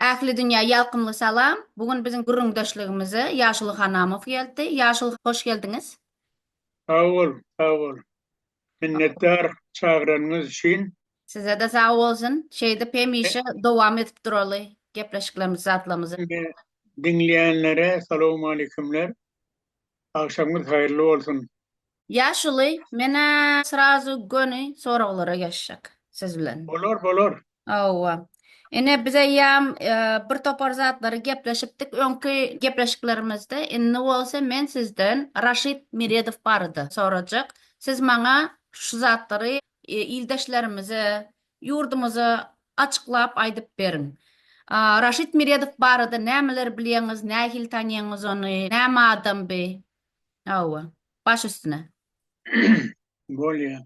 Ähli dünýä ýalkymly salam! Bu gün biziň gürrüňdeşligimize Ýaşuly Hanamow geldi. Ýaşuly, hoş geldiňiz! Sag boluň, sag boluň! Minnetdar çagyranyňyz üçin. Sizede sag bolsun şeýdip hemişe dowam edip duraly gepleşiklerimizi zatlamyzy. Diňleýänlere salowmaleýkumler. Agşamyňyz haýyrly bolsun. Ýaşuly menä srazu göni soraglara geçjek siz bilen. Bolar bolar Hawa. Ine biz eýýäm e, bir topar zatlary gepleşipdik öňki gepleşiklerimizde. Indi bolsa men sizden Raşid Meredow barada sorajak. Siz maňa şu zatlary e, ildeşlerimize, ýurdumyza açyklap aýdyp beriň. A, Raşid Meredow barada nämeler bilýäňiz, nähili tanýaňyz ony, näme adam bi? Hawa. Baş üstüne. Bolýar.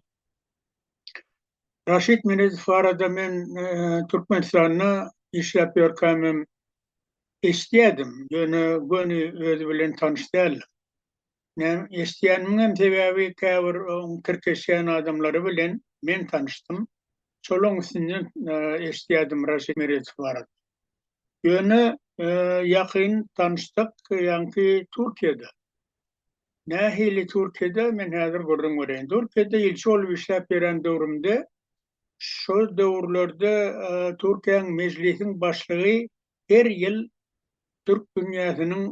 Raşid Meredow barada men Türkmenistanda işläp ýörkämem eşidýärdim, ýöne göni özi bilen tanyş däldim. Näme, eşidýänimiňem sebäbi käbir oň tirkeşýän adamlary bilen men tanyşdym. Şolaryň üstünden eşidýärdim Raşid Meredow barada. Ýöne ýakyn tanyşdyk, ýaňky Türkiýede. Nähili Türkiýede men häzir gürrüň bereýin. Türkiýede ilçi bolup işläp ýören döwrümde şo döwürlerde Türkiýäň Mejlisiň başlygy her ýyl türk dünýäsiniň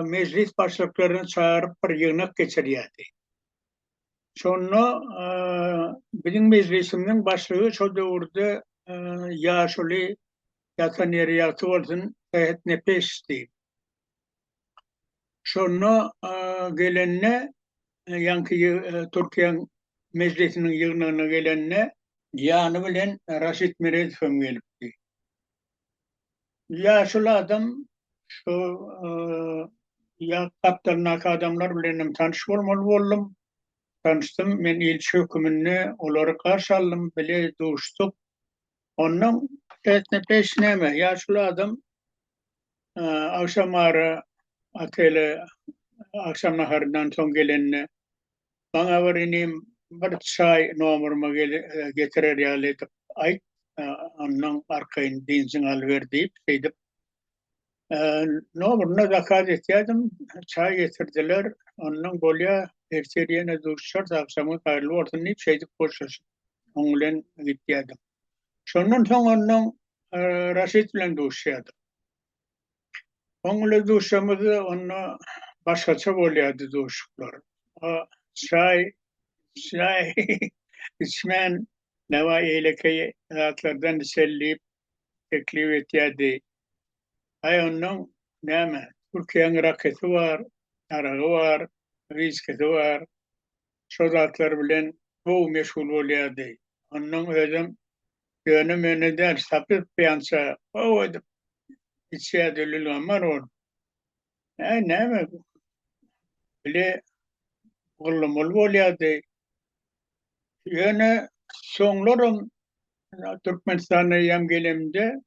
mejlis başlyklaryny çagyryp bir ýygnak geçirýärdi. Şonda biziň mejlisimiziň başlygy şo döwürde ýaşuly ýatan ýeri ýagty bolsun Sehet Nepesdi. Şonda gelende, ýaňky Türkiýäň Mejlisiniň ýygnagyna gelende, ýany bilen Raşid Meredow hem gelipdi. Ýaşuly adam şu gapdalyndaky adamlar bilen hem tanyş bolmaly boldum. Tanyşdym, men ilçi höküminde olary garşy aldym, bile duşduk. Ondan etne peş näme? Ýaşuly adam agşam ara otele agşam naharyndan soň gelende Maňa bir inim bir çaý nomuryma getirer ýaly edip aýt, ondan arkaýyn benzin alyber diýip, şeýdip Nomuryna zakaz etýädim, çaý getirdiler. Ondan bolýa, ertir ýene duşuşarys, agşamyň haýyrly bolsun diýip, şeýdip hoşlaşyp, oň bilen gitýädim. Şondan soň ondan Raşit bilen duşuşýadym. Oň bilen duşuşamyzda onda başgaça bolýardy duşuşyklar. O çaý, çaý içmän, näwa eýlekeý zatlardan içeli diýip, teklip etýärdi. Aý onnoň näme, Türkiýäň rakesy bar, aragy bar, wiskisi bar, şo zatlar bilen gowy meşgul bolýardy. Onnoň özem ýöne-möne däl, sapyk-pyýança gowy edip içýärdi, lülgammar ol. Äý, näme bu? Bile gyllamaly bolýardy. Ýöne soňlaram Türkmenistana ýam gelemde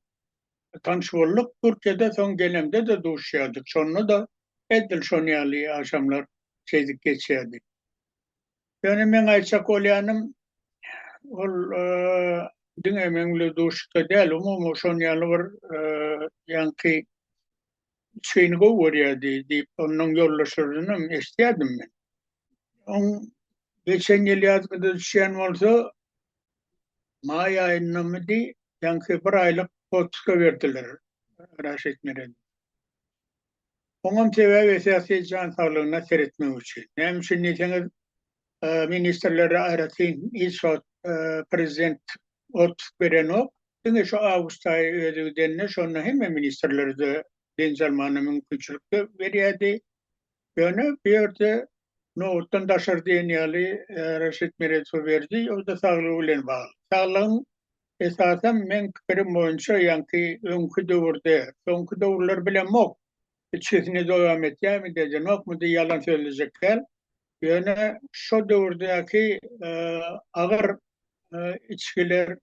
tanyş bolduk. Türkiýede soň gelemde-de duşýardyk. Şonda-da edil şon ýaly agşamlar şeýdip geçýärdi. Ýöne meň aýtjak bolýanym, ol diňe meň bilen duşlukda däl, umumy şon ýaly bir ýaňky üçgeýini gowy görýärdi diýip, ondan ýoldaşlaryndanam eşidýärdim men. Oň geçen ýyl ýazgada düşýän bolsa, maý aýyndamydy, ýaňky bir aýlyk otpuska berdiler Raşid Meredow. Oňam sebäbi esasy jan saglygyna seretmek üçin. Näme üçin diýseňiz, ministrlere aýratyn hiç wagt prezident otpusg berenok. Diňe şu awgust aýy özi gidende şonda hemme ministrlere-de dynç almagyna mümkinçilik berýärdi. Ýöne bu ýerde nobatdan daşary diýen ýaly Raşid Meredow berdi, o-da saglygy bilen bagly. Saglygyň esasan meň pikirim boýunça ýaňky öňki döwürde, soňky döwürler bilemok, içgisini dowam etýärmi-de edenokmy-de ýalan sözlejek däl, Ýöne şo döwürdäki agyr içgiler,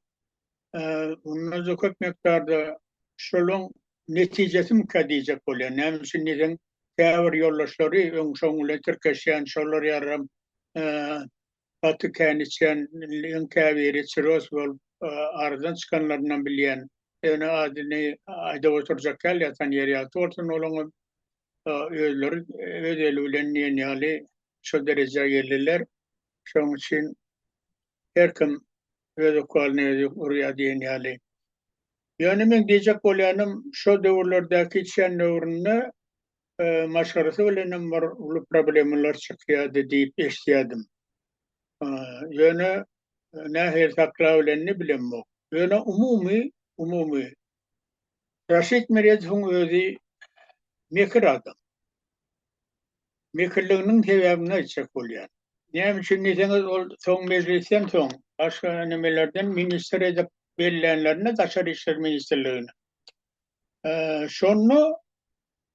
mundan-da köp mukdarda şolaň netijesimikä diýjek bolýan. Näme üçin diýseň, käbir ýoldaşlary öň şoň bilen tirkeşýän, şolar ýaram gaty kän içýän, iň käbiri çiroz bolup, aradan çykanlarynam bilýän. Ýöne adyny aýdap oturjak däl, ýatan ýeri ýagty bolsun olaňam. özleri öz eli bilen diýen ýaly şu derejä geldiler. Şonuň üçin her kim öz okwalyny özi urýar diýen ýaly. Ýöne men diýjek bolýanym, şu döwürlerdäki çen döwründe e, maşgarasy bilenem bir uly problemalar çykýardy diýip eşitýärdim. E, ýöne e, nähili sakla bilenini bilemok. Ýöne umumy umumy Raşid Meredowyň özi mekir adam. Mekirliginiň sebäbini aýtjak bolýan. Näme üçin diýseňiz, ol soň mejlisden soň, başga nimelerden ministr edip bellänlerinde, daşary işler ministrligini, şonda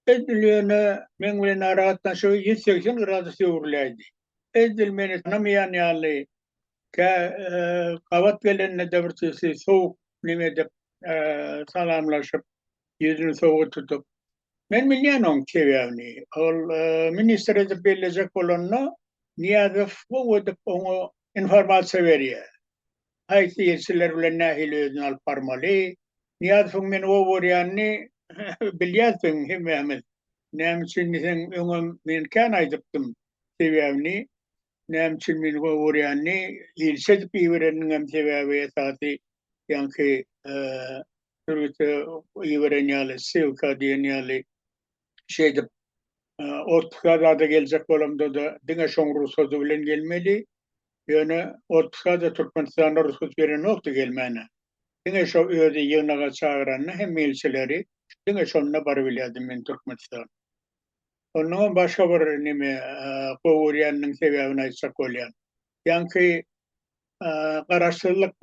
Edil ýöne meň bilen aragatnaşygy ýüz segsen gradus öwrüläýdi. Edil meni tanamaýan ýaly, kä gabat gelende-de bir tüýsi sowuk niň edip, salamlaşyp, ýüzüni sowuk tutup. Men bilýän oň sebäbini. Ol ministr edip bellejek bolanda, Nyýazow gowy edip oňa informasiýa berýär. haýsy ilçiler bilen nähili özüni alyp barmaly. Nyýaz soň meni oburýanyny bilýäs sen hemmämiz. Näme üçin diýseň öňem men kän aýdypdym sebäbini. Näme üçin meni oburýanyny, ilçi edip ibereniniňem sebäbi esasy ýaňky sürgüte iberen ýaly, ssylka diýen ýaly şeýdip otpuska zada geljek bolamda-da diňe şoň rugsady bilen gelmeli, ýöne otpuska-da Türkmenistanda rugsat berenokdy gelmäne. Diňe şo özi ýygnaga çagyranda hem milçileri diňe şonda barybilýärdim men Türkmenistana. Onnoňam başga bir neme gowy görýäniniň sebäbini aýtjak bolýan. Ýaňky Garaşsyzlyk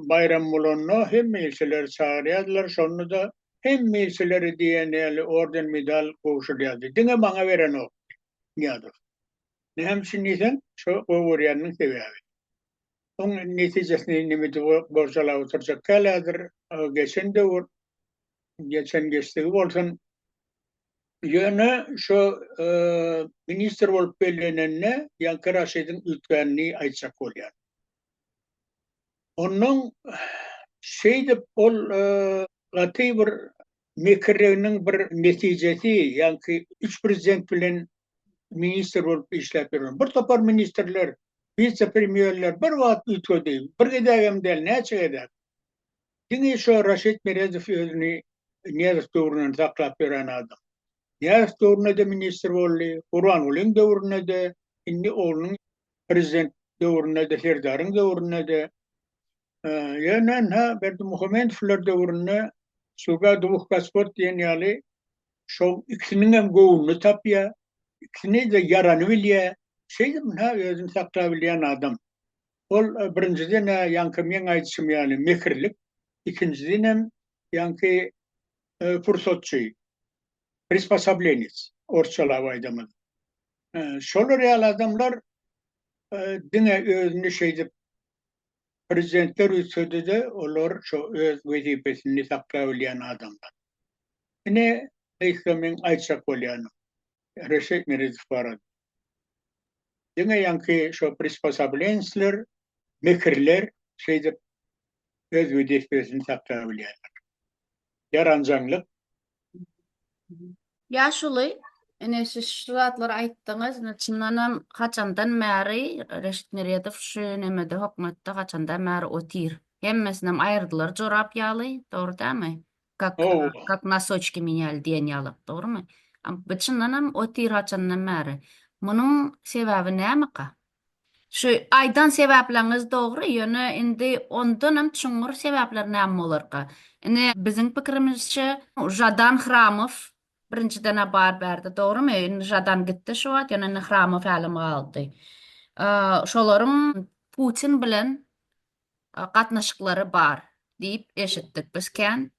baýramy bolanda hemme ilçileri çagyrýardylar, şonda-da hemme ilçileri diýen ýaly orden-medal gowşurýardy. Diňe maňa berenokdy Nyýazow. Näme üçin diýseň, şo gowy görýäniniň sebäbi. Oň netijesini nemedi borjalap oturjak kälädir, geçen döwür, geçen geçdigi bolsun. Ýöne şu ministr bolup bellenende ýaňky Raşidiň üýtgänini aýtjak bolýar. Onnoň şeýdip ol gaty bir mekirliginiň bir netijesi ýaňky üç prezident bilen ministr bolup işläp ýören bir topar ministrler, wise-premýerler bir wagt üýtgedi. Bir gezek hem däl, näçe gezek. Diňe şo Raşid Meredow özüni Nyýazow döwründen saklap ýören adam. Nyýazow döwründe-de ministr boldy, Gurbangulyň döwründe-de, indi oglunyň prezident döwründe-de, Serdaryň döwründe-de, ýöne ynha Berdimuhamedowlar döwründe Sluga dwuh gospod diýen ýaly şol ikisiniň hem göwnüni tapýar, ikisine-de ýarany bilýär, şeýdip ynha özüni saklap bilýän adam. Ol birinjiden-ä ýaňky meň aýdyşym ýaly mekirlik, ikinjidenem ýaňky pursatçy, prispasablenec, orsçalap aýdamyz. Şolar ýaly adamlar diňe özüni şeýdip prezidentler üýtsede-de, olar şo öz wezipesini saklabilýän adamlar. Ine, gysga meň aýtjak bolýanym. Reşit Miridow barada. Diňe ýaňky şo prisposoblensler, mekirler şeýdip öz wezipesini sakla bilýärler. Ýaranjaňlyk. Ýaşuly, ine siz şu zatlary aýtdyňyz, ine çyndanam haçandan bäri Reşit Miridow şu nemede hökümetde haçandan bäri otyr? Hemmesinem aýyrdylar jorap ýaly, dogry dälmi? Kak, kak nasoçki menýali diýen ýaly, dogrumy? Bu çyndanam otir haçandan bäri. Munuň sebäbi nämeka? Şu aýdan sebäpleriniz dogry, ýöne indi ondanam çuňňur sebäpler näme bolarka? Indi biziň pikirimizçe, Žadan Hramow birinjiden-ä bar bärde, dogrumy? Indi Žadan gitdi şu wagt, ýöne indi Hramow hälem galdy. Şolaryň Putin bilen gatnaşyklary bar diýip eşitdik biz kän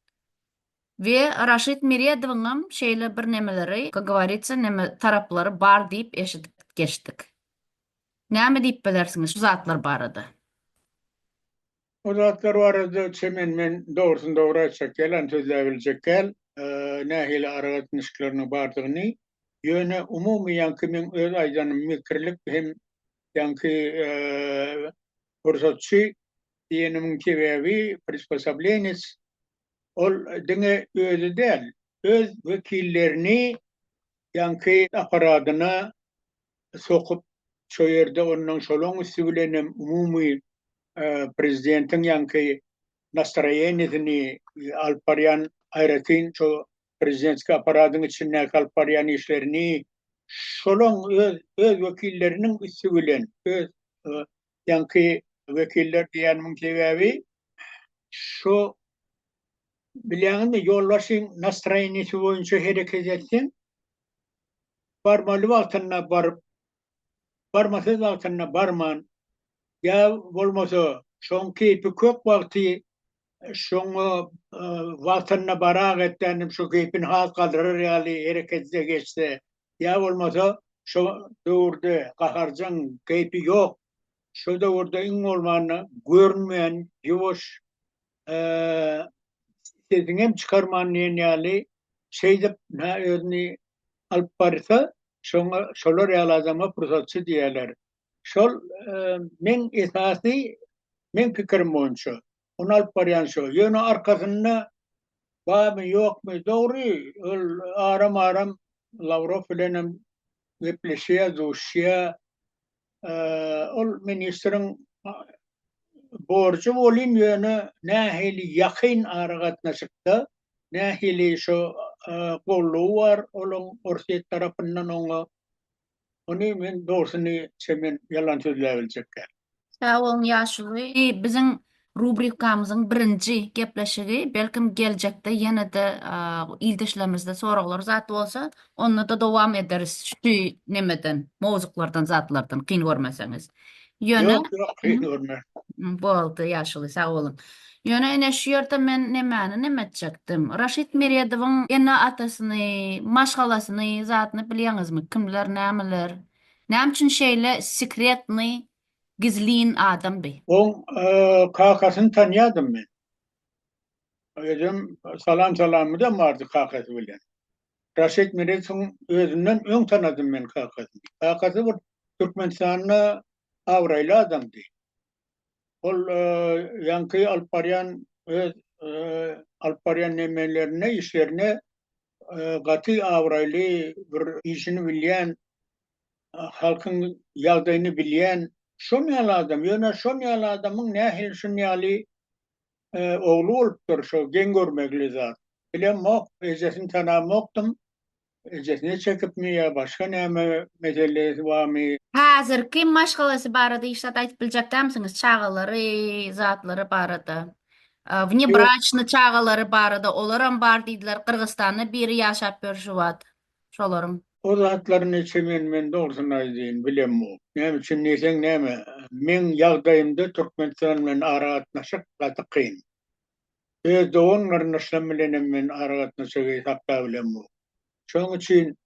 we Raşid Meredowyňam şeýle birnemeleri, ka govoritsýa neme, taraplary bar diýip eşidip geçdik. Näme diýip bilersiňiz şu zatlar barada? O zatlar barada çemen men dogrusyn-dogry aýtjak däl, anyk sözläbiljek däl, nähili aragatnaşyklarynyň bardygyny, ýöne umumy ýaňky meň öz aýdanym mekirlik hem ýaňky Pursatçy diýenimiň sebäbi, prispasablenec, ol diňe özi däl, öz wekillerini ýaňky apparadyna sokup, şo ýerde onnoň şolaň üsti bilenem umumy prezidentiň ýaňky nastroýeniýesini alyp barýan aýratyn şo prezidentski apparatyň içindäki alyp barýan işlerini şolaň öz öz wekilleriniň üsti bilen öz ýaňky wekiller diýenimiň sebäbi şu bilýäňizmi ýolbaşçyň nastroýeniýesi boýunça hereket etseň barmaly wagtynda baryp barmasyz wagtynda barman, ýa bolmasa şoň keýpi kök wagty şoňa wagtynda barak etdänim şo keýpini has galdyrar ýaly hereketde geçse, ýa bolmasa şo döwürde gaharjaň keýpi ýok, şo döwürde iň bolmanda görünmeýän ýuwaş, sesini hem çykarman diýen ýaly şeýdip nä özüni alyp barsa, şoňa şolar ýaly adama pursatçy diýerler. Şol meň esasy meň pikirim boýunça ony alyp barýan şo. Ýöne arkasynda barmy ýokmy dogry ol aram-aram Lawrow bilen hem gepleşýär, duşýar. ol ministriň borjy bolin ýöne nähili ýakyn aragatnaşykda nähili şo gollugy bar olaň orsýet tarapyndan oňa ony men dogrusyny şemen ýalan sözläbiljek däl. Sag boluň ýaşuly biziň Rubrikamyzyň birinji gepleşigi belkim geljekde ýene-de ildeşlerimizden soraglar zat bolsa, onda-da dowam ederis şu nemeden, mowzuklardan, zatlardan, kyn görmeseňiz. Ýöne Ýok, ýok, kyn görmen. Boldy, ýaşuly, sag boluň. Ýöne ine şu ýerde men nemäni neme etjekdim. Raşid Meredowyň ene-atasyny, maşgalasyny, zadyny bilýäňizmi? Kimler, nämeler? Näme üçin şeýle sekretnyý gizlin adamdy. Oň kakasyny tanýadym men. Özem salam salamymyzam bardy kakasy bilen. Raşid Meredowyň özünden öň tanadym men kakasyny. Kakasy bir Türkmenistanda abraýly adamdy. Ol ýaňky alyp barýan öz alyp barýan nemelerine, işlerine gaty abraýly bir işini bilýän halkyň ýagdaýyny bilýän şon ýaly adam, ýöne şon ýaly adamyň nähili şun ýaly ogly bolupdyr, şo geň görmegli zat. Bilemok, ejesini tanamokdym, ejesine çekipmi ýa başga näme meselesi barmy. Häzirki maşgalasy barada hiç zat aýdyp biljek dälmisiňiz, çagalary, zatlary barada? Wnebraçny çagalary barada olaram bar diýdiler, Gyrgyzstanda biri ýaşap ýör şu wagt. şolaryň. O zatlaryny çemen men dogrusyny aýdaýyn bilemok. Näme üçin diýseň näme, meň ýagdaýymda Türkmenistan bilen aragatnaşyk gaty kyn. Öz dogan-garyndaşlarym bilenem men aragatnaşygy saklabilemok. Şonuň üçin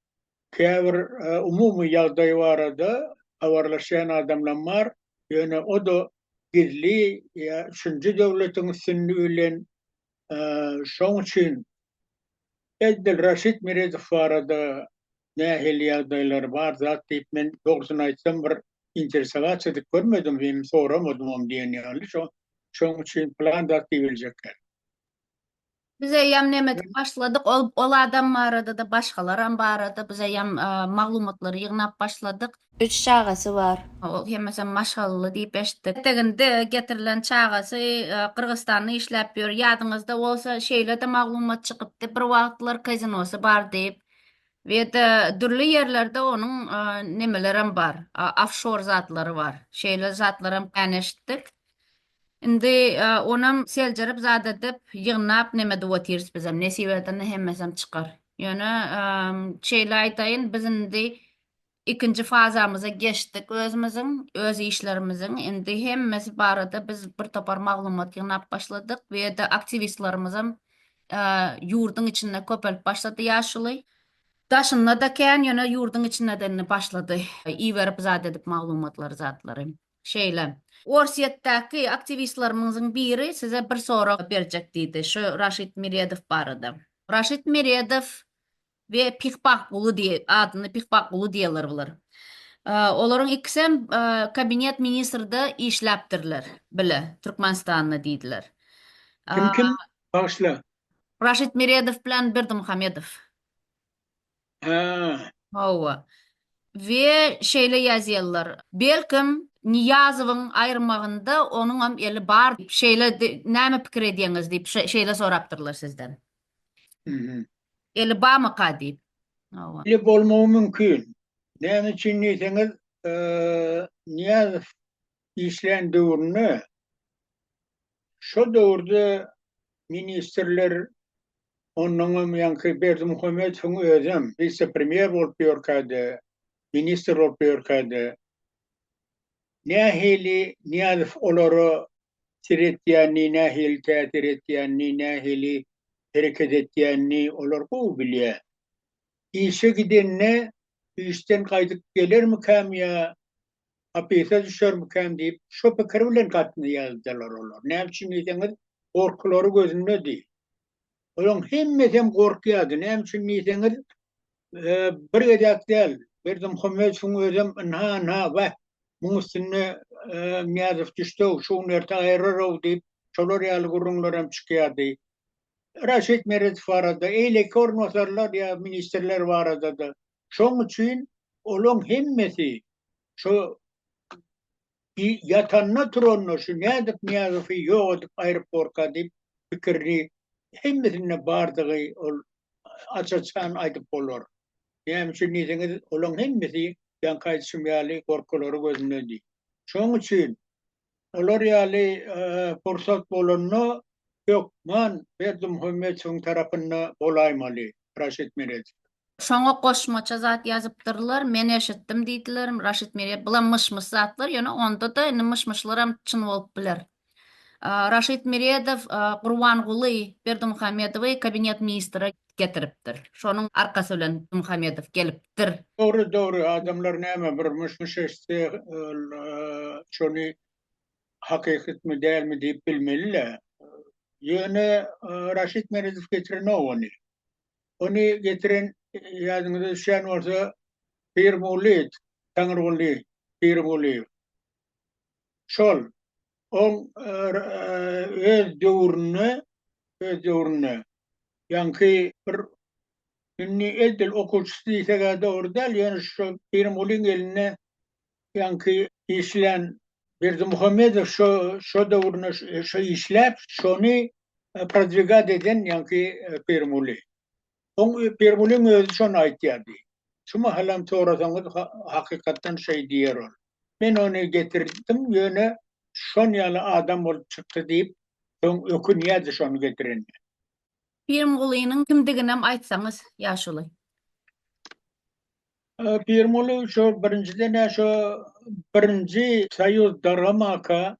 käbir umumy ýagdaý barada habarlaşýan adamlarym bar, ýöne o-da gizli ýa üçünji döwletiň üstünligi bilen. Şonuň üçin Eldilraşid Meredow barada nähili ýagdaýlary bar zat diýip men dogrusyny aýtsam bir interesowatsia edip görmedim hem soramadymam diýen ýaly şo şoň üçin plan zat diýip biljekler. Biz eýýäm näme edip başladyk ol ol adam baradada başgalaram barada biz eýýäm maglumatlary ýygnap başladyk. Üç çagasy bar. Ol hemmesem maşgalaly diýip eşitdik. Eteginde getirilen çagasy Gyrgyzstanda işläp ýör. Ýadyňyzda bolsa şeýle-de maglumat çykypdy, bir wagtlar kazinosy bar diýip. Weýde dürli ýerlerde onuň nemelerem bar, ofşor zatlary bar. Şeýle zatlaram kän eşitdik. Indi onam seljerip zat edip, ýygnap neme edip otyrys bizem. Nesip edende hemmesem çykar. Ýöne şeýle aýdaýyn, biz indi Ikinji fazamyza geçdik özümiziň, öz işlerimiziň. Indi hemmesi barada biz bir topar maglumat ýygnap başladyk we ýa-da aktiwistlerimizem ýurduň içinde köpelip başlady ýaşuly. Daşynda-da kän, ýöne ýurduň içinde-de indi başlady iberip zat edip maglumatlary zatlary. Şeýle. Orsýetdäki aktiwistlerimiziň biri size bir sorag berjek diýdi, şu Raşid Meredow barada. Raşid Meredow we Pihbah guly diýe adyny Pihbah guly diýerler bular. Olaryň ikisem kabinet ministrde işläpdirler bile Türkmenistanda diýdiler. Kim kim? Bagyşla. Raşid Meredow bilen Berdimuhamedow. Hä. Hawa. We şeýle ýazýarlar. Belkim Niýazowyň aýyrmagynda onuňam eli bar. Şeýle näme pikir edýäňiz diýip şeýle sorapdyrlar sizden. Eli bamyka diýip. Eli bolmagy mümkin. Näme üçin diýseňiz, Nyýazow işlän döwründe şo döwürde ministrler ondan hem ýaňky Berdimuhamedowyň özem wise-premýer bolup ýörkäde, ministr bolup ýörkäde Nähili Nyýazow olara seretýänini, nähili täsir etýänini, nähili hereket etýänini olar gowy bilýär. Işe gidende işden gaýdyp gelermikäm ýa hapysa düşermikäm diýip, şo pikir bilen gatnaýardylar olar. Näme üçin diýseňiz, gorkulary gözündedi. Olaryň hemmesem gorkýardy. Näme üçin diýseňiz, bir gezek däl, Berdimuhamedowyň özem ynha-ynha, Wah, muň üstüne Nyýazow düşdü-ow, şu gün erte aýyrar-ow diýip, şolar ýaly gürrüňlerem çykýardy. Raşid Meredow barada, eýleki orunbasarlar ýa ministrler barada-da. Şoň üçin olaryň hemmesi şu Bi ýatanda turanda şu nädip Nyýazowy ýok edip aeroporta diýip pikirini hemmesinde bardygy ol aç-açan aýdyp bolar. Näme üçin diýseňiz olaň hemmesi ýaňky aýdyşym ýaly gorkulary gözündedi. Şoň üçin olar ýaly pursat bolanda hökman Berdimuhamedowyň tarapynda bolaýmaly Raşid Meredow. Şoňa goşmaça zat ýazypdyrlar, men eşitdim diýdiler, Raşid Mirýew. Bulam myş-myş zatlar, ýöne onda-da indi myş-myşlaram çyn bolup biler. Raşid Miredow Gurbanguly Berdimuhamedowy kabinet ministra getiripdir. Şonuň arkasy bilen Muhamedow gelipdir. Dogry, dogry, adamlar näme bir myş-myş eşitse, ol şony hakykatmy, dälmi diýip bilmeli-le. Ýöne Raşid Meredow getirenok ony. Ony getiren ýadyňyza düşýän bolsa Pirguly, Taňryguly Pirgulyýew. Şol oň öz döwründe, öz döwründe ýaňky bir indi edil okuwçysy diýseg-ä dogry däl, ýöne şol Pirgulyň elinde Ýaňky işlän Berdimuhamedow şo şo döwrüne şo işläp, şony prodwigat eden ýaňky Pirmuli. Oň Pirmuliň özi şony aýtýardy. Şu mahalam sorasaňyz hakykatdan şeý diýer ol. Men ony getirdim, ýöne şon ýaly adam bolup çykdy diýip, soň ökünýärdi şony getirenine. Pirimgulynyň kimdiginem aýtsaňyz ýaşuly. Pirimguly şo birinjiden ä şo birinji soýuz daramaka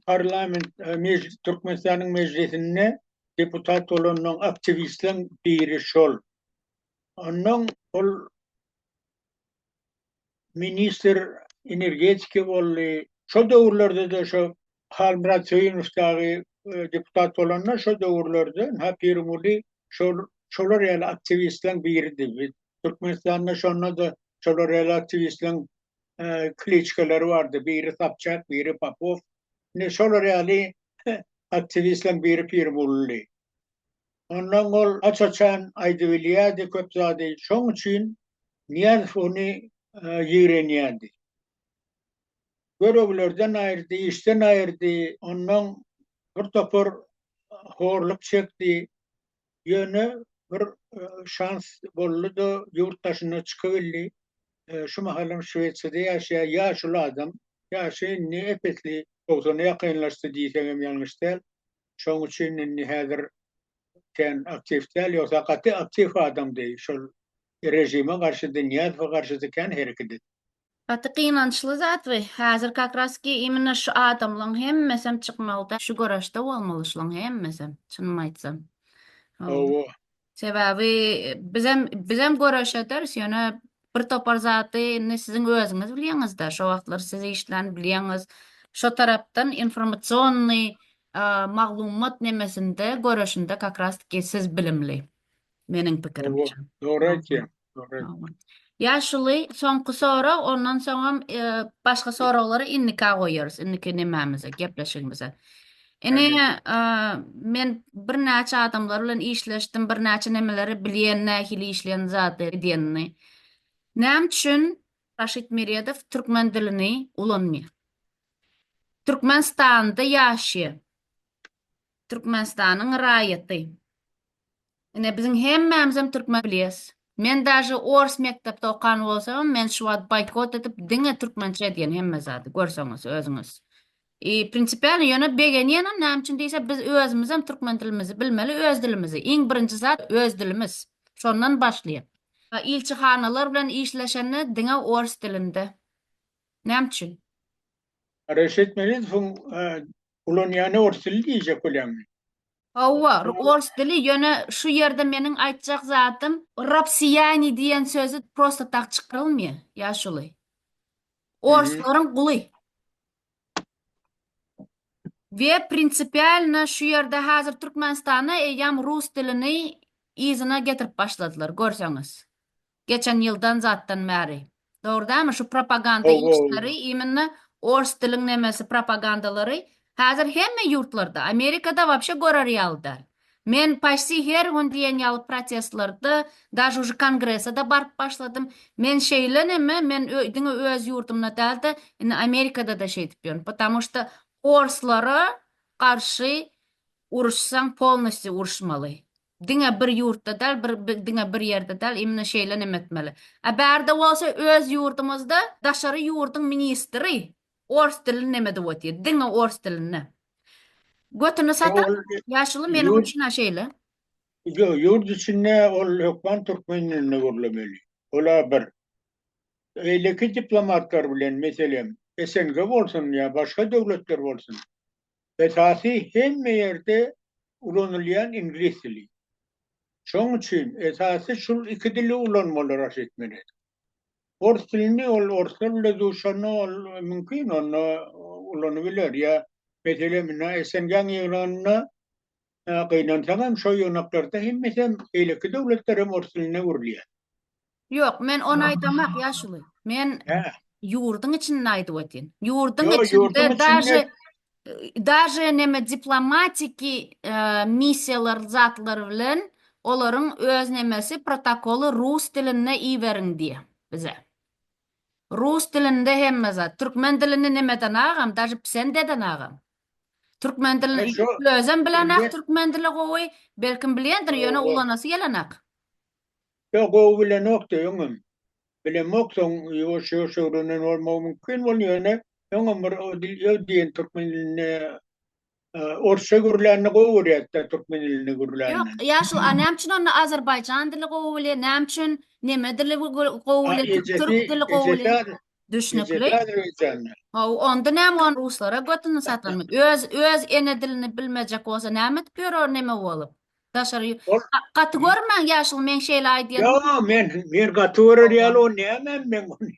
parlament mejlis Türkmenistanyň mejlisinde deputat bolandan aktiwistleň biri şol. Ondan ol ministr energetiki boldy. Şol döwürlerde-de şo Halmyrat Söýünow dagy deputat bolanda şo döwürlerde ha Pirguly şol şolar ýaly aktiwistleň biridi. Biz Türkmenistanda şonda-da şolar ýaly aktiwistleň kliçkalary bardy. Biri Sapçak, biri Popow. Indi şolar ýaly aktiwistleň biri Pirgulydy. Onnoň ol aç-açan aýdybilýärdi köp zady, şoň üçin Nyýazow ony ýigrenýärdi. Göroglerden aýyrdy, işden aýyrdy, onnoň bir topar horluk çekdi. Ýöne bir şans boldy-da, ýurt daşyna çykybildi. Şu mahalam Şwesiýada ýaşaýar, ýaşuly adam. Ýaşy indi ep-esli togsana ýakynlaşdy diýsegem ýalňyş däl. Şoň üçin indi häzir sen aktiw däl, ýogsa gaty aktiw adamdy. Şol režime garşydy, Nyýazowa garşydy kän hereket etdi. Gaty gynançly zat we häzir kakraski immina şu adamlaň hemmesem çykmagda şu göreşde bolmaly şulaň hemmesem çynymy aýtsam. Hawa. Sebäbi bizem bizem göreş ederis, ýöne bir topar zady indi siziň özüňiz bilýäňiz-de, şo wagtlar siz işlän bilýäňiz. Şo tarapdan informasionny maglumat nemesinde, göreşinde kakras-tiki siz bilimli, meniň pikirimçe. Dogry aýtýaň. Ýaşuly, soňky sorag, ondan soňam başga soraglary indika goýarys, indiki nemämize, gepleşigimize. Ine, men birnäçe adamlar bilen işleşdim, birnäçe nemeleri bilýän, nähili işleýän zady edýänini. Näme üçin Raşid Meredow türkmen dilini ulanmaýar? Türkmenistanda ýaşaýar. Türkmenistanyň raýaty. Ine biziň hemmämizem türkmen bilýäs. Men daže ors mekdepde okan bolsamam men şu wagt boýkot edip diňe türkmençe edýän hemme zady görseňiz özüňiz. I prinsipialno ýöne begenýänem näme üçin diýse biz özümizem türkmen dilimizi bilmeli öz dilimizi iň birinji zat öz dilimiz şondan başlaýar. Ilçihanalar bilen işleşende diňe ors dilinde näme üçin? Reşit Melidowyň Ulanýany ors dili diýjek bolýaňmy? Hawa, ors dili, ýöne şu ýerde meniň aýtjak zadym, Rossiýani diýen sözi prosta tak çykarylmaýar, ýaşuly. Orslaryň guly. We prinsipialno şu ýerde häzir Türkmenistana eýýäm rus dilini yzyna getirip başladylar, görseňiz. Geçen ýyldan zatdan bäri. Dogry dälmi şu propaganda işleri immnna ors diliň nemesi propagandalary häzir hemme ýurtlarda Amerikada wapşe görer ýaly däl. Men paşsi her gün diýen ýaly protestlarda daže uje kongresada baryp başladym. Men şeýle neme men diňe öz ýurdumda dälde indi Amerikadada şeýdip ýörün. Potamu şta orslara garşy uruşsaň polnostýu uruşmaly. Diňe bir ýurtda dal bir diňe bir ýerde dal imni şeýle neme etmeli. A bärde bolsa öz ýurdumyzda daşary ýurduň ministri ors dilini neme edip otyr. Diňe ors dilinde. Götüni satan ýaşuly meniň üçin a şeýle. Ýo ýurt içinde ol hökman türkmen dilinde gürlemeli. Ol a bir. Beýleki diplomatlar bilen meselem SNG bolsun ýa başga döwletler bolsun. Esasy hemme ýerde ulanylýan iňlis dili. Şoň üçin esasy şul iki dili ulanmaly raşy etmeli. Ors dilini ol orslar bile duşanda ol mümkin onda ulanybiler ýa meselem indi SNG-niň ýygnagynda Hä, gynansaňam, şo ýygnaklarda hemmesem, beýleki döwletlerem ors diline öwrülýär. Ýok, men ony aýdamak, ýaşuly. Men Hä. ýurduň içinde aýdyp otyryn. Ýurduň Ýo, içinde ýurduň içinde- daže daže neme diplomatiki e, missiýalar zatlar bilen olaryň öz nemesi protokoly rus dilinde iberiň diýýär bize. Rus dilinde hemme zat. Türkmen dilini nemeden agam, daže psendeden agam. Türkmen dilini şu özem bilenak, türkmen dili gowy, belkim bilýändir, ýöne ulanasy gelenak. Ýok, gowy bilenokdy öňem. Bilemok, soň ýuwaş ýuwaş öwrenen bolmagy mümkin bol, ýöne öňem bir öw diýen türkmen dilinde orsça gürlänini gowy görýärdi, türkmen dilinde gürlänini. Ýok, ýa şu a näme üçin onda azerbaýjan dili gowy bilýär, näme üçin neme dili gowy bilýär, türk dili gowy bilýär. Düşnükli. Gecesi azerbaýjanda. Haw, onda näme ony ruslara götüni satyrmy? Öz öz ene dilini bilmejek bolsa näme edip ýörer neme bolup? Daşary ýu- Ol- Ga- Gaty görmäň ýaşuly meň şeýle aýdýan. Ýa men men gaty görer ýaly o näme men ony.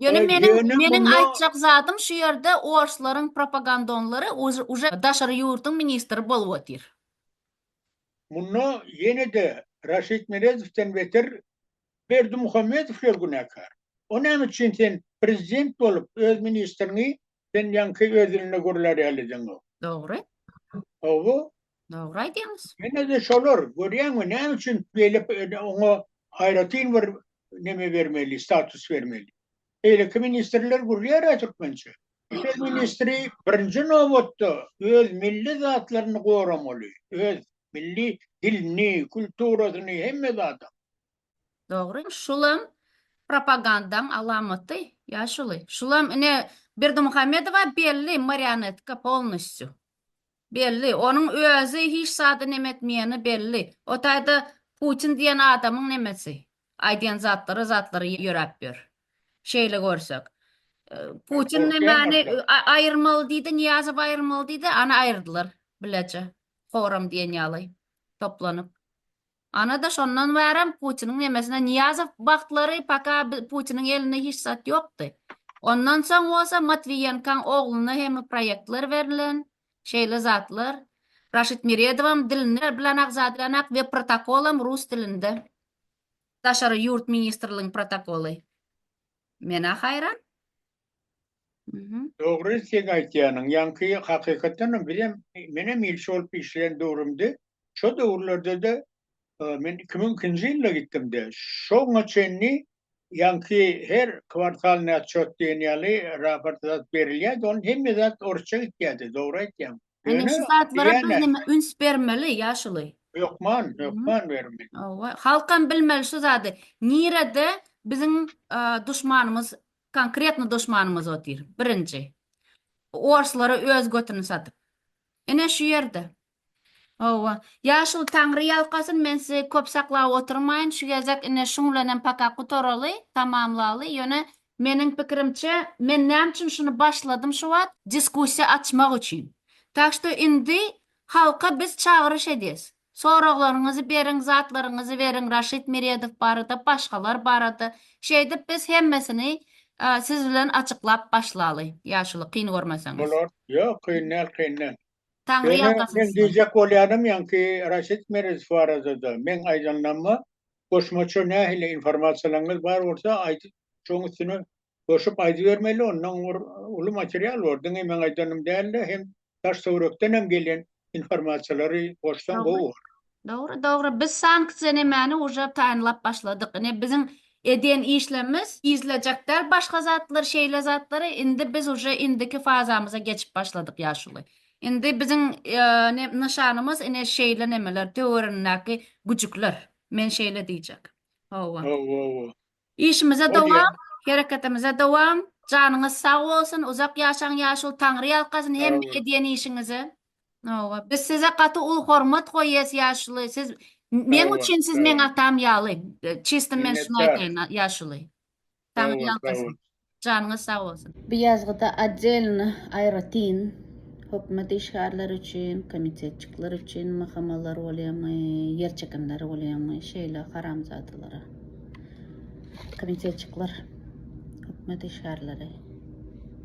Ýöne Ol meniň ýöne meniň muňa- aýtjak zadym şu ýerde orslaryň propagandonlary uj- uje daşary ýurduň ministri bolup otyr. Munda ýene-de Raşid Merezowden beter Berdimuhamedow şol günäkär. O näme üçin sen prezident bolup öz ministriňi sen ýaňky öz dilinde gürlär ýaly edeňok. Dogry. Hawa. Dogry aýdýaňyz. Ýene-de şolar görýäňmi näme üçin beýle oňa aýratyn bir neme bermeli status bermeli. Beýleki ministrler gürlär-ä türkmençe. Öz ministri birinji nobatda öz milli zatlaryny goramaly, öz Milli dilini, kulturasyny, hemme zady. Dogry. Şulam propagandaň alamaty, ýaşuly. Şulam ine Berdimuhamedowa belli marionetka polnostýu. Belli. Onuň özi hiç zady nemetmeýeni belli. O taýda Putin diýen adamyň nemesi. Aýdýan zatlary zatlary ýöräp ýör. Şeýle görsek. Putin nemäni aýyrmaly diýdi, Nyýazow aýyrmaly diýdi, ana aýyrdylar bileje. forum diýen ýaly toplanyp. Ana-da şondan bärem Putiniň nemesine Nyýazow wagtlary paka Putiniň elinde hiç zat ýokdy. Ondan soň bolsa Matwiýenkaň ogluna hem proýektler berlen, şeýle zatlar. Raşid Meredowam dilini bilenak zadýanak we protokolam rus dilinde. Daşary ýurt ministrligiň protokoly. Men-ä haýran. Mhm. Dogry seň aýtýanyň ýaňky hakykatdanam bizem menem ilçi bolup işleýän döwrümde şo döwürlerdede men iki müň ikinji ýylda gitdimde şoňa çenli ýaňky her kwartalnyý otçot diýen ýaly raport zat berilýärdi ony hemme zat orsça gitýärdi dogry aýtýaň Ine şu zatlara biz hem üns bermeli ýaşuly. Hökman hökman bermeli. Halkam bilmeli şu zady nirede biziň duşmanymyz Konkretno duşmanymyz otyr. Birinji. Bu orslara öz götüni satyp. Ine şu ýerde. Hawa. Ýaşuly Taňry ýalkasyn, men sizi köp saklap oturmaýyn, şu gezek ine şuň bilen hem paka gutaraly, tamamlaly. Ýöne meniň pikirimçe, men näme üçin şuny başladym şu wagt, diskussiýa açmak üçin. Tak što indi halka biz çagyryş edýäs. Soraglaryňyzy beriň zatlaryňyzy beriň Raşid Meredow barada başgalar barada şeýdip biz hemmesini siz bilen açyklap başlaly ýaşuly kyn görmeseňiz. Bolar ýok kyn däl kyn däl. Taňry ýalkasyn size. Men diýjek bolýanym ýaňky Raşid Meredow baradada meň aýdanlaryma goşmaça nähili informasiýalaryňyz bar bolsa aýdyp şoň üstüne Goşup aýdybermeli ondan bir uly material bar diňe meň aýdanym dälde hem daş töwrekdenem gelen informasiýalary goşsaň gowy bolar. Dogry dogry biz sanksiýa nemäni uje taýynlap başladyk ine biziň edýän işlemmiz yzlajak däl başga zatlar şeýle zatlary indi biz uje indiki fazamyza geçip başladyk ýaşuly indi biziň ne nyşanymyz ine şeýle nemeler töwerenindäki güjükler men şeýle diýjek howwa howwa Işimize dowam, hereketimize dowam, janyňyz sag bolsun, uzak ýaşaň ýaşul Taňry ýalkasyn hemme edýän işiňizi. Hawa, biz size gaty uly hormat goýýas ýaşuly, siz meň üçin siz meň atam ýaly, çysty men şuny aýtaýyn ýaşuly. Taňry ýalkasyn. Janyňyz sag bolsun. Bu ýazgyda otdelny, aýratyn, hökümet işgärleri üçin, komitetçikler üçin mahamalar bolýamy, ýer çekimleri bolýamy, şeýle haramzadalara. Komitetçikler, hökümet işgärleri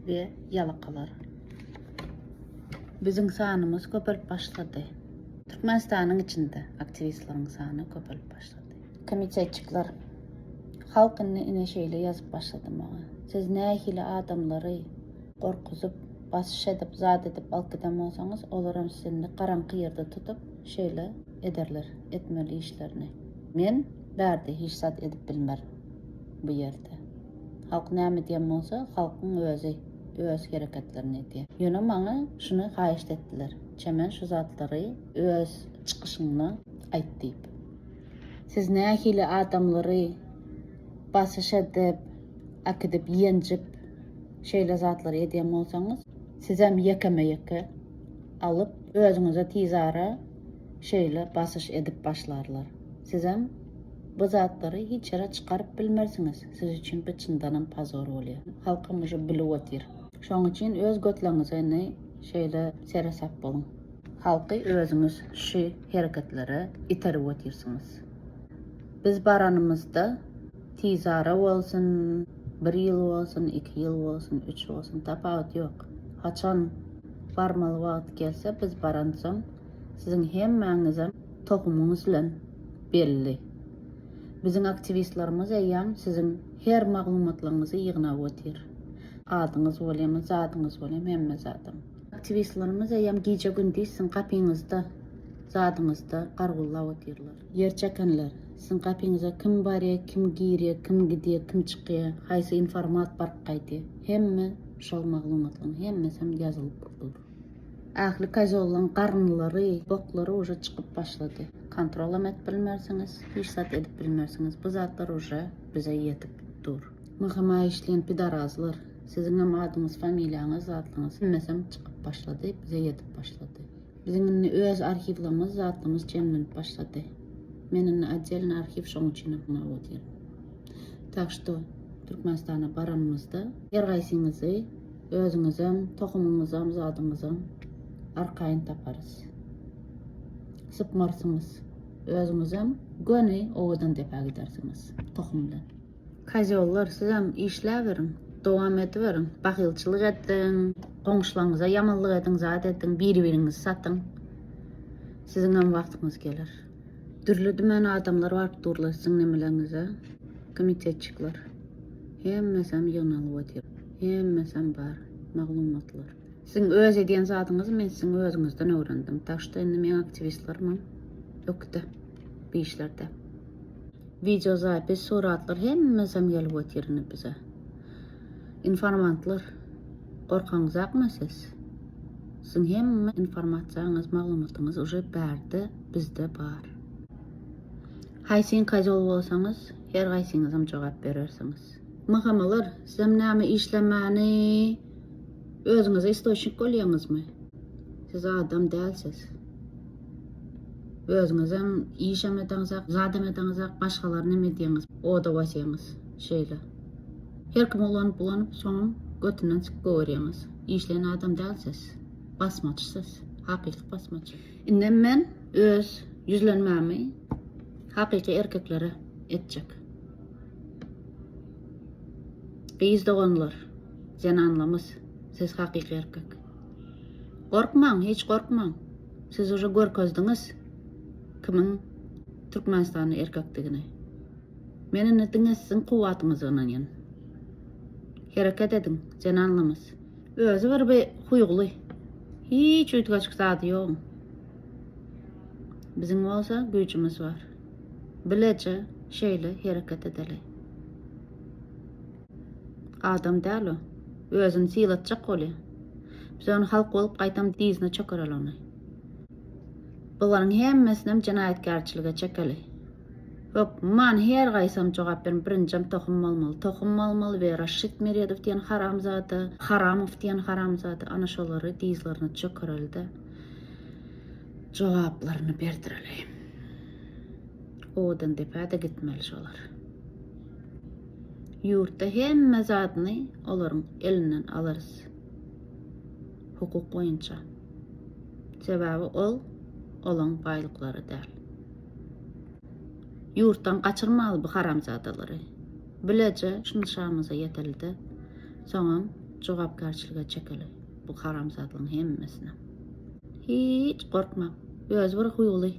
we ýalakalar. Biziň sanymyz köpelip başlady. Türkmenistanyň içinde aktiwistleriň sany köpelip başlady. Komitetçikler. Halk indi ine şeýle ýazyp başlady maňa. Siz nähili adamlary gorkuzyp, basyş edip, zat edip alyp giden bolsaňyz, olaram sizi indi garaňky ýerde tutup, şeýle ederler etmeli işlerini. Men bärde hiç zat edip bilmerin. Bu ýerde. Halk näme diýen bolsa, halkyň özi öz hereketlerini edýär. Ýöne maňa şuny haýyşt etdiler, Çemen şu zatlary öz çykyşyňda aýt diýip. Siz nähili adamlary basyş edip, akidip, ýenjip, şeýle zatlary edýän bolsaňyz, sizem ýekeme-ýeke alyp, özüňize tizara şeýle basyş edip başlarlar. Sizem bu zatlary hiç ýere çykaryp bilmersiňiz. Siz üçin bu çyndanam pozor bolýar. Halkam uje bilip otyr. Şonuň üçin öz götleňize indi şeýle seresap boluň. Halky özüňiz şü hereketlere iterip otyrsyňyz. Biz baranymyzda tizara bolsun, bir ýyl bolsun, iki ýyl bolsun, üç bolsun, tapawut ýok. Haçan barmaly wagty gelse biz baransoň siziň hemmäňizem tohumyňyz bilen belli. Biziň aktiwistlerimiz eýýäm siziň her maglumatlaryňyzy ýygnap otyr. Adyňyz bolýamy, zadyňyz bolýamy hemme zadam. Aktiwistlerimiz eýýäm gije-gündiz siziň gapyňyzda, zadyňyzda gargullap otyrlar. Ýer çekenler, siziň gapyňyza kim barýar, kim girýär, kim gidýär, kim çykýar, haýsy informat baryp gaýdýar, hemme şol maglumatlaryň hemmesi hem ýazylyp dur. Ähli kozollaryň garynlary, boklary uje çykyp başlady. Kontrol hem edip bilmersiňiz, hiç zat edip bilmersiňiz. Bu zatlar uje bize ýetip dur. Myhyma işleýän pidarazlar. Siziňem adyňyz familiýaňyz zatlyňyz hemmesem çykyp başlady bize ýetip başlady. Biziň indi öz arhiwlerimiz zatlymyz jemlenip başlady. Men indi oddelny arhiw şoň üçinem muňa otyr. Tak şto Türkmenistana baranymyzda her gaýsyňyzy özüňizem tohumyňyzam zadyňyzam arkaýyn taparys. Sypmarsyňyz. Özüňizem göni owadan depä gidersiňiz tohum bilen. Kozýollar sizem işläberiň, dowam ediberiň, bahylçylyk ediň, goňşularyňyza ýamanlyk ediň, zat ediň, biri-biriňizi satyň. Siziňem wagtyňyz geler. Dürli-dümen adamlar baryp durlar siziň nemeleriňize, komitetçikler. Hemmesem ýygnalyp otyr. Hemmesem bar, maglumatlar. Siziň öz edýän zadyňyzy men siziň özüňizden öwrendim. Daşda indi meň aktiwistlerimem ökde, bu işlerde. Wideo zapis suratlar hemmesem gelip otyr indi bize. Informantlar gorkaňyzakmy siz? Siziň hemme informasiýaňyz maglumatyňyz uje bärde bizde bar. Haýsyn kazol bolsaňyz her gaýsyňyzam jogap berersiňiz. Mhmlar sizem näme işlemäni özüňize istoçnik bolýaňyzmy? Siz adam dälsiz. Özüňizem işem edeňizak, zadam edeňizak, başgalar neme edýäňiz, oda basýaňyz. Şeýle. Her kim ulanyp-ulanyp, soňam götünden syk gögerýäňiz. Işleýän adam däl siz. Basmaç siz. Hakyky basmaç. Indem men öz ýüzlenmämi hakyky erkeklere etjek. Gyz doganlar, zenanlamys, siz hakyky erkek. Gorkmaň, hiç gorkmaň. Siz uje görkezdiňiz kimiň türkmenistanly erkekdigini. Men indi diňe siziň kuwwatyňyza ynanýan. Hereket ediň, zenanlarymyz. Özi bir bir huýgly. Hiç üýtgeşik zady ýok. Biziň bolsa güýjümiz bar. Bileje şeýle hereket edeli. Adam däl o. Özüni sylatjak bolýa. Biz ony halk bolup gaýtam dyzyna çökereli ony. Bularyň hemmesinem jenaýatkärçilige çekeli. Hökman her gaýsam jogap berin birinjem tohum bolmaly tohum bolmaly we Raşşit Meredow diýen haramzada Haramow diýen haramzada ana şolary dyzlaryna çökerelide jogaplaryny berdireli. Owadan depä de gitmeli şolar. Ýurtda hemme zadyny olaryň elinden alarys. Hukuk boýunça. Sebäbi ol olaň baýlyklary däl. Ýurtdan gaçyrmaly bu haramzadalary. Bileje şuny şamyza ýetelide soňam jogapkärçilige çekeli bu haramzadlygyň hemmesini. Hiç gorkma. Özi bir huýuly.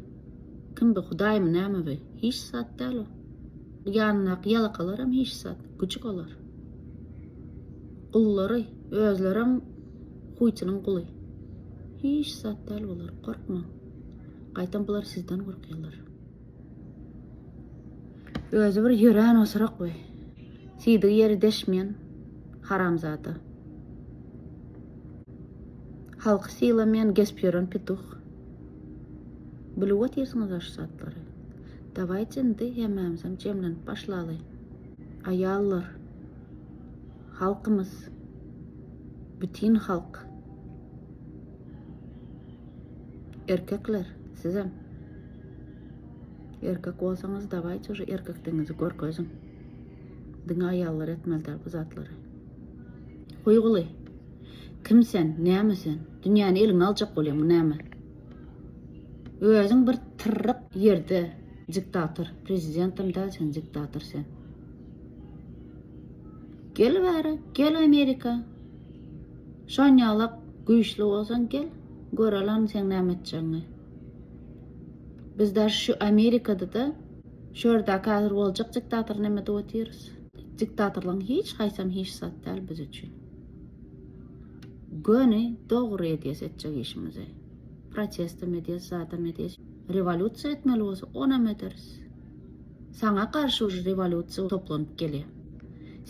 Kim bu hudaýmy näme bu? Hiç zat däl o. Ýanyndaky ýalakalaram hiç zat, güjük olar. Gullary, özlerem huýtynyň guly. Hiç zat däl bular, gorkmaň. Gaýtam bular sizden gorkýarlar. Özi bir ýörän osurak we siýdigi ýeri deşmeýän haramzada. Halky sylamaýan gesp ýören petuh. Bilip otyrsyňyz-a şu zatlary. Dawaýçy indi hemmämizem jemlenip başlaly. Aýallar, halkymyz, bütin halk. Erkekler, sizem. Erkek bolsaňyz dawaýçy uje erkekdigiňizi görkeziň. Diňe aýallar etmeli däl bu zatlary. Guýguly. Kim sen, näme sen? Dünýäni eliňe aljak bolýaň, näme? Özüň bir tyrryk ýerde diktator prezidentim däl sen diktator sen. Gel bäri gel Amerika. Şonýalak güýçli bolsaň gel görelen sen näme etjegiňi. Biz daş şu Amerikada da şu ýerde häzir boljak diktator näme diýip otyrys. Diktatorlaryň hiç haýsam hiç zat däl biz üçin. Göni dogry edýäs etjek işimizi. Protestem edýäs, zadam edýäs. Rewolýusiýa etmeli bolsa, onam ederis. Saňa garşy uje rewolýusiýa toplanyp gelýär.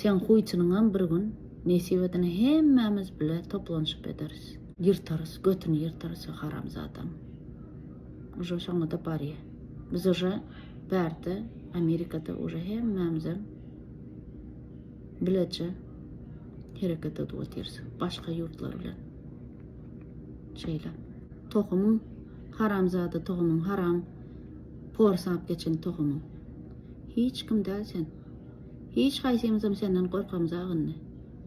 Seň huýtynyňam bir gün nesip edene hemmämiz bile toplanyşyp ederis. Ýyrtarys, götüni ýyrtarys o haramzadaň. Uje şoňa-da barýar. Biz uje bärde, Amerikada uje hemmämizem. bileje hereket edip otyrys başga ýurtlar bilen. Şeýle. Tohumyň haramzada tohumyň haram porsap geçen tohumyň. Hiç kim däl sen. Hiç haýsymyzam senden gorkamyz agyndy.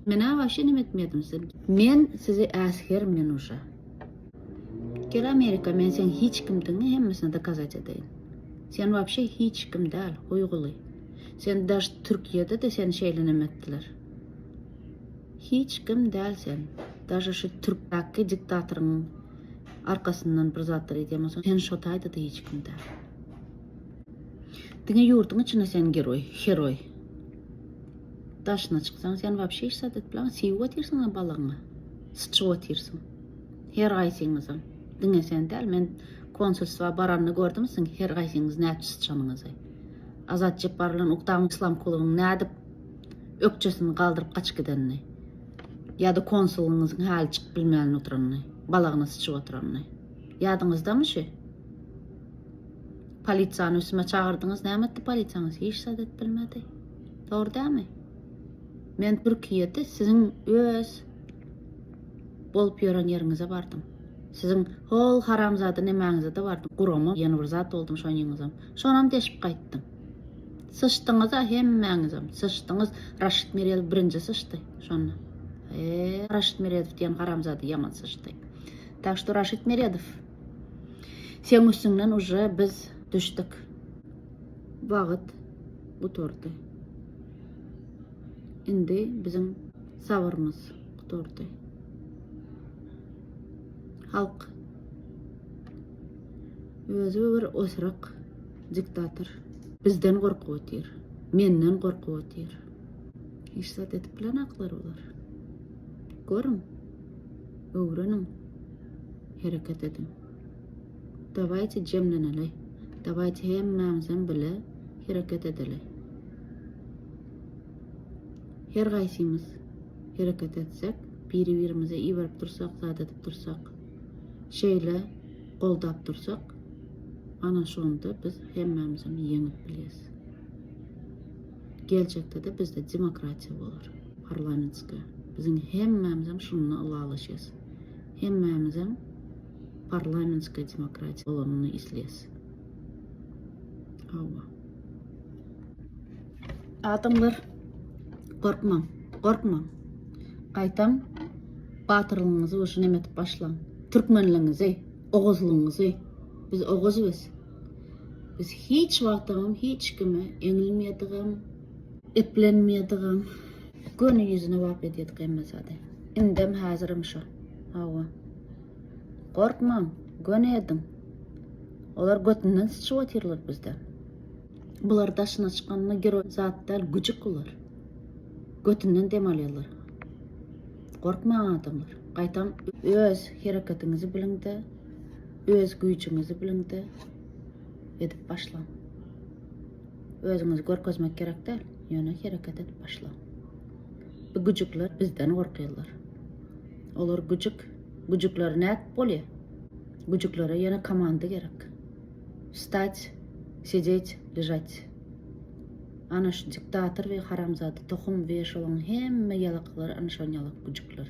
Menä waşe neme etmedim size. Men sizi äsger men uşa. Gel Amerika men sen hiç kimdiňi hemmesini dokazat edeýin. Sen wapşe hiç kim däl, huýguly. Sen daş Türkiýede de seni şeýle neme etdiler. Hiç kim däl sen. Daşa şu Türkdäki diktatoryň arkasyndan bir zatlar edýän bolsaň, sen şo taýda da hiç kim däl. Diňe ýurduň içinde sen geroý, heroý. Daşyna çyksaň sen wapşe hiç zat etbilaň, siýip otyrsyň balygyňy. Syçyp otyrsyň. Her gaýsyňyzam. Diňe sen däl, men konsulstwa baranda gördüm siziň her gaýsyňyz näçe syçanyňyzy. Azat Jepbar bilen Uktam Islamkulowyň nädip ökjesini galdyryp gaçyp gidenini, ýa-da konsulyňyzyň häli çykyp bilmän oturanyny, balagyna syçyp oturanyny. Ýadyňyzdamy şu? Polisiýany üstüme çagyrdyňyz, näme etdi polisiýaňyz? Hiç zat edip bilmedi. Dogry dälmi? Men Türkiýede siziň öz bolup ýören ýeriňize bardym. Siziň hol haramzada nemäňize-de bardym. Gurama ýene bir zat boldum şoň ýyňyzam. Şonam deşip gaýtdym. Syçdyňyz-a hemmäňizem, syçdyňyz. Raşid Meredow birinji syçdy şonda. E, Raşid Meredow diýen haramzada ýaman syçdy. Tak što Raşid Meredow, seň üstüňden uje biz düşdük. Wagt gutardy. Indi biziň sabyrymyz gutardy. Halk Özü bir osurak diktator. Bizden gorkup otyr. Menden gorkup otyr. Hiç zat edip bilenaklar olar. Görüň. Öwreniň. Hereket ediň. Dawayte jemleneli. Dawayte hemmämizem bile hereket edeli. Her gaysymyz hereket etsek, biri birimize iberip dursak, zat edip dursak. Şeýle goldap dursak, ana şonda biz hemmämizem ýeňip bilýäs. Geljekde-de bizde demokratiýa bolar, parlamentskiýa. Biziň hemmämizem şunda ylalaşýas. Hemmämizem parlamentskiýa demokratiýa bolanyny isleýäs. Hawa. Adamlar, gorkmaň, gorkmaň. Gaýtam Batyrlygyňyzy bolşy neme edip başlaň. Türkmenligiňizi, oguzlygyňyzy. Biz oguz biz. Biz hiç wagtam hiç kime eňilmeýädigem, eplenmeýädigem, göni ýüzüne wap edýädik hemme zady. Indem häzirem şo. Hawa. Gorkmaň, göni ediň. Olar götünden syçyp otyrlar bizden. Bular daşyna çykanyna giro zat däl, güjük bular. Götünden dem alýarlar. Gorkmaň adamlar, gaýtam öz hereketiňizi biliňde, öz güýjüňizi biliňde edip başlaň. Özüňizi görkezmek gerek däl, ýöne hereket edip başlaň. Bu güjükler bizden gorkýarlar. Olar güjük, güjükler nädip bolýar? Güjüklere ýene komanda gerek. Wstać, sedeç, ležać. Ana şu diktator we haramzada tohum we şolaň hemme ýalaklary ana şol ýalak güjükler.